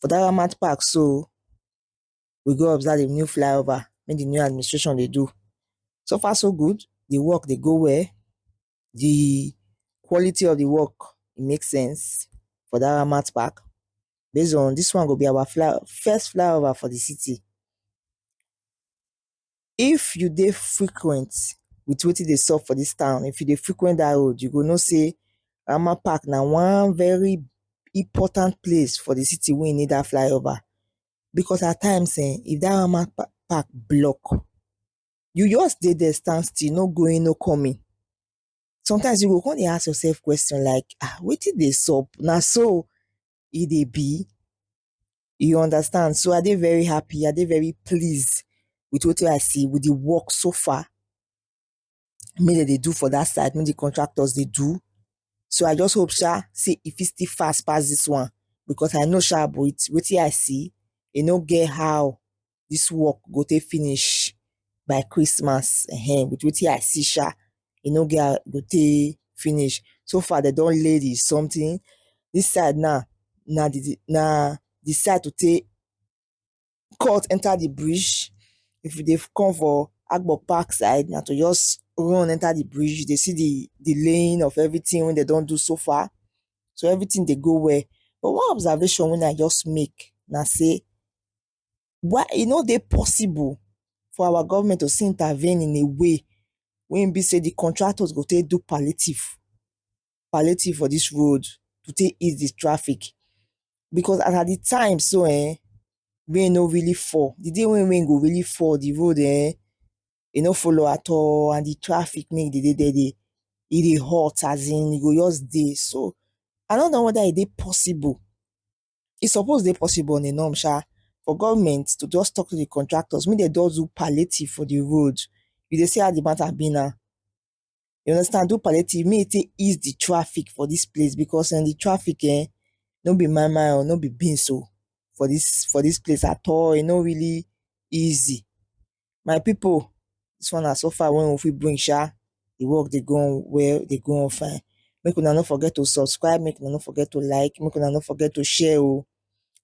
For dat Ramat park so, we go observe di new fly over wey di new administration dey do. So far so good, di work dey go well, di quality of di work e make sense for dat Ramat park. Base on dis one go be our fly first fly over for di city. If you dey frequent with wetin dey sup for dis town, if you dey frequent dat road you go know sey Rama Park na one very important place for the city wey need dat flyover because at times um if dat Rama Park block you just dey there stand still no going no coming sometimes you go come dey ask yourself question like um wetin dey sup na so e dey be you understand so i dey very happy i dey very pleased with wetin i see with the work so far me dem dey do for that side me the contractors dey do so i just hope sha say e fit still fast pass this one because i know sha with wetin i see e no get how this work go take finish by Christmas um with wetin I see sha e no get how e go take finish so far dem don lay the something this side now na the na the side to take cut enter the bridge if you dey come for Agbo Park side na to just run enter the bridge you dey see the the laying of everything wey dem don do so far so everything dey go well but one observation wey I just make na say why e no dey possible for our government to still intervene in a way wey e be sey the contractors go take do palliative, palliative for this road to take ease the traffic because as at the time so um rain no really fall the day wey rain go really fall the road um e no follow at all and the traffic make e dey dey there e dey hot as in e go just dey so I no know whether e dey possible E suppose dey possible on a norm sha for government to just talk to the contractors make dem just do palliative for the road. You dey see how the matter be now. You understand, do palliative make e take ease the traffic for dis place because um the traffic um no be mine mine o, no be beans o for dis for dis place at all. E no really easy. My pipu dis one na so far wey we fit bring sha, di work dey go on well dey go on fine make una no forget to subscribe make una no forget to like make una no forget to share oh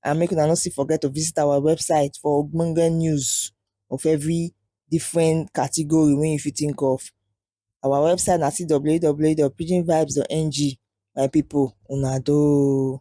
and make una no still forget to visit our website for ogbonge news of every different category wey you fit think of. Our website na www.pidginvibes.ng my pipu una doh oh.